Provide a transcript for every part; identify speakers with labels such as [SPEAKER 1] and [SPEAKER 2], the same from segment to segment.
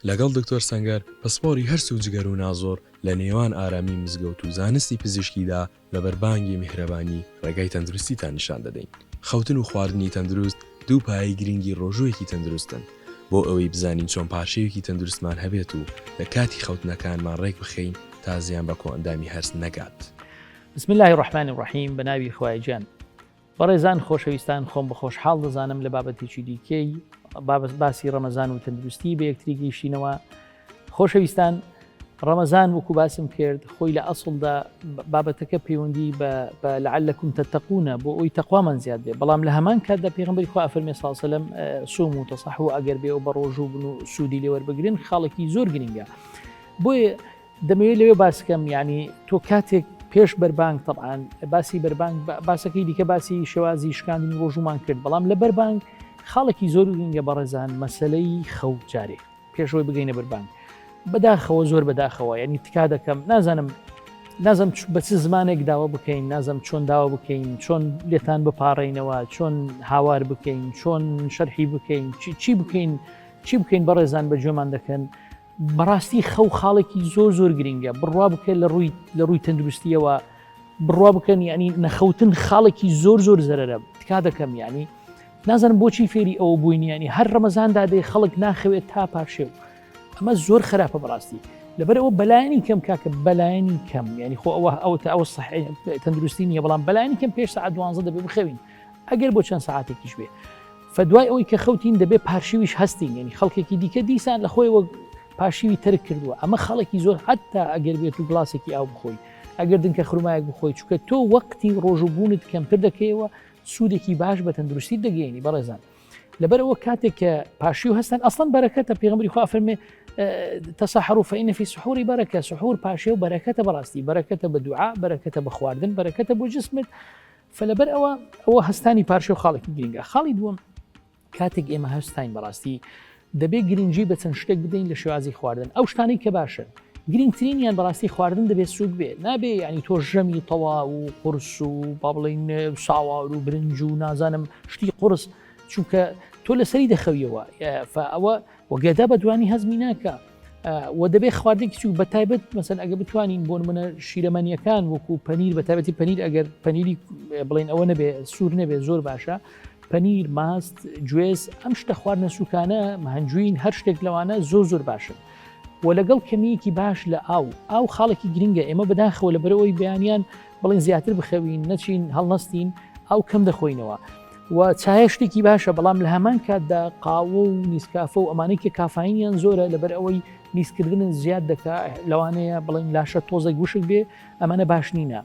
[SPEAKER 1] لەگەڵ دکتۆر سەنگەر پسپۆری هەرس و جگەر و نازۆر لە نێوان ئارامی مزگەوت و زانستی پزیشکیدا لەبەر بانگی میهرەبانی ڕێگای تەندروستیتان نیشان دەدەین. خەوتن و خواردنی تەندروست دوو پایەی گرنگی ڕۆژوویەکی تەندروستن. بۆ ئەوەی بزانین چۆن پارشێویکی تەندروستمان هەبێت و لە کاتی خەوتنەکانمان ڕێکبخەین تا زیان بە کۆئەندامی هەرس نەگات. بسم اللە
[SPEAKER 2] الرحمن الرحیم بەناوی خوای جان بەڕێزان خۆشەویستان خۆم بەخۆش حاڵ دەزانم لە بابەتێکی دیکەی بابەت باسی ڕەمەزان و تەندروستی بە یەکتری گەیشتینەوە خۆشەویستان ڕەمەزان وەکو باسم کرد خۆی لە ئەسڵدا بابەتەکە پەیوەندی بە لەعلەکم تەتەقونە بۆ ئەوی تەخوامان زیاد بێ بەڵام لە هەمان کاتدا پێغمبەری خوا فەرمی ساڵسەلم سوم و تەسەح و ئەگەر بێ و بە ڕۆژوو بن و سوودی لێوەربگرن خاڵێکی زۆر گرنگە بۆیە دەمەوێت لەوێ باس کەم یعنی تۆ کاتێک پێش بەربانگ تەعاان باسی بەربانگ باسەکەی دیکە باسی شێوازی شکاندنی ڕۆژومان کرد بەڵام لە بەربانگ خاڵێکی زۆر گرنگە بەڕێزان مەسلەی خەوت جارێ پێشەوەی بگەینە بەربانگ بەداخەوە زۆر بەداخەوە ینی تکا دەکەم نازانم نازم بە چ زمانێک داوا بکەین نازم چۆن داوا بکەین چۆن لێتان بپارڕینەوە چۆن هاوار بکەین چۆن شەرحی بکەین چی بکەین چی بکەین بەڕێزان بە جۆمان دەکەن بەڕاستی خەو خاڵێکی زۆر زۆر گرنگە بڕوا بکە لە ڕووی لە ڕووی تەندروستیەوە بڕوا بکەن ینی نەخەوتن خاڵێکی زۆر زۆر زەرەرە تکا دەکەم ینی نازانم بۆچی فێری ئەوە بووینیانی هەر ڕەمەزاندا دێ خەڵک ناخەوێت تا پاشێو ئەمە زۆر خراپە بەڕاستی لەبەر ئەوە بەلایانی کەم کاکە بەلایانی کەم ینی خۆ ئەوە ئەو تا ئەو سح تەندروستی نیە بەڵام بەلایانی کەم پێش سعات دوانزە دەبێ بخەوین ئەگەر بۆ چەند ساعتێکیش بێ فە دوای ئەوەی کە خەوتین دەبێ پارشیویش هەستین یعنی خەڵکێکی دیکە دیسان لە خۆی وەک پاشیوی ترک کردووە ئەمە خەڵکی زۆر حتا ئەگەر بێت و گلاسێکی ئاو بخۆی ئەگەر دنکە خرمایەک بخۆی چکە تۆ وەقتی ڕۆژوبوونت کەمتر دەکەیەوە سوودێکی باش بە تەندروستی دەگەێنی بەڕێزان لەبەرەوە کاتێک کە پاشی و هەستن ئەسڵەن بەرەکەتە پێغمبری خوا فەرمێ تەسەحر و فەینەفی سحوری بەرەکە سحور پاشێ و بەرەکەتە بەڕاستی بەرەکەتە بە دوعا بەرەکەتە بە خواردن بەرەکەتە بۆ جسمت فە لەبەر ئەوە ئەوە هەستانی پارشێ و خاڵێکی گرنگە خاڵی دووەم کاتێک ئێمە هەستین بەڕاستی دەبێت گرنگجی بە چەند شتێک بدەین لە شێوازی خواردن ئەو شتانی کە باشن گرنگترینیان بەڕاستی خواردن دەبێت سوود بێ نابێ ینی تۆ ژەمی تەوا و قرس و با بڵین ساوار و برنج و نازانم شتی قرس چونکە تۆ لەسەری دەخەویەوە ئەوە و گەدە بە دوانی هەزمی ناکە و دەبێت خواردێکی چوو بە تایبەت مەسەن ئەگە بتوانین بۆن منە شیرەمەنیەکان وەکو پەنیر بە تابەتی پەنیر ئەگەر پەنیری بڵین ئەوە نەبێ سوور نەبێ زۆر باشە پەنیر ماست گوێز ئەم شتە خواردنە سوکانە هەنجوین هەر شتێک لەوانە زۆر زۆر باشن و لەگەڵ کەمیەکی باش لە ئاو ئاو خاڵێکی گرنگە ئێمە بەداخەوە لە بەرەوەی بەیانیان بڵین زیاتر بخەوین نەچین هەڵنەستین ئەو کەم دەخۆینەوە و چایە شتێکی باشە بەڵام لە هەمان کاتدا قاوە و نیسکافە و ئەمانەی کە کافاینیان زۆرە لەبەر ئەوەی میزکردنت زیاد دەکا لەوانەیە بڵین لاشە تۆزێک وشک بێ ئەمانە باش نینە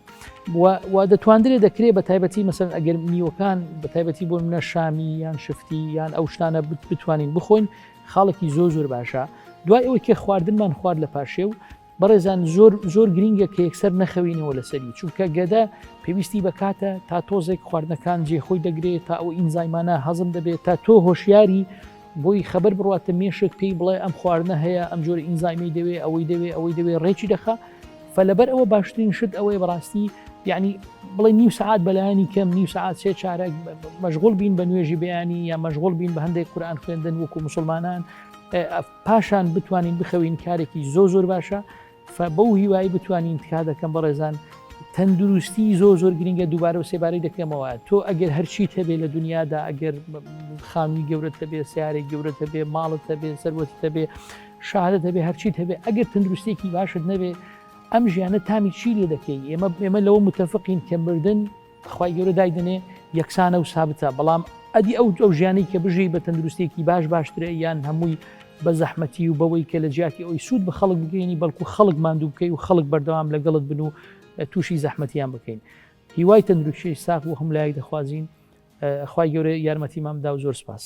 [SPEAKER 2] و دەتواندرێ دەکرێت بە تایبەتی مەسەر ئەگەر نیوەکان بە تایبەتی بۆ منە شامی یان شفتی یان ئەو شتانە بتوانین بخۆین خاڵێکی زۆ زۆر باشە دوای ئەوەی کە خواردنمان خوارد لە پاشێ و بەڕێزان زۆر زۆر گرینگە کە یەکسەر نەخەوینەوە لەسەری چونکە گەدە پێویستی بەکاتە تا تۆزێک خواردنەکان جێ خۆی دەگرێت تا ئەو ئینزایمانە هەزم دەبێت تا تۆ هۆشیاری بۆی خبر بڕاتە مێشک پێی بڵێ ئەم خواردنە هەیە ئەم جۆری ئینزایمی دەوێ ئەوەی دەوێ ئەوەی دەوێ ڕێکی دەخە فەلەبەر ئەوە باشترین شت ئەوەی بەڕاستی یعنی بڵێ نیو سعات بەلایانی کەم نیو سعات سێ چارەک مەژغول بین بە نوێژی بیانی یا مەژغول بین بە هەندێک قورآان خوێندن وەکو مسلمانان پاشان بتوانین بخەوین کارێکی زۆ زۆر باشە بەو هیوایی بتوانین تکا دەکەم بەڕێزان تەندروستی زۆ زۆر گرنگە دووبارە و سێبارەی دەکەمەوە تۆ ئەگەر هەرچی تەبێ لە دنیادا ئەگەر خانووی گەورەتە بێ سیارێک گەورەتە بێ ماڵتە بێ سەروەتتە بێ شارە دەبێ هەرچی هەبێ ئەگەر تەندروستێکی باشت نەبێ ئەم ژیانە تامی چی لێ دەکەی ئێمە ئێمە لەوە متتەفقین کە مردن خوای گەورە دایدەنێ یەکسانە و سابتە بەڵام ئەدی ئەو ئەو ژیانی کە بژی بە تەندروستێکی باش باشترە یان هەمووی بە زەحمەتی و بەوەی کە لە جیاتی ئەوی سوود بە خەڵک بگەینی بەڵکو خەڵک ماندوو بکەی و خەڵک بەردەوام لەگەڵت بن و تووشی زەحمەتیان بکەین هیوای تەندروشی ساخ و هەم لایەک دەخوازیین خی گەورە یارمەتی مامدا و زۆر سپاس.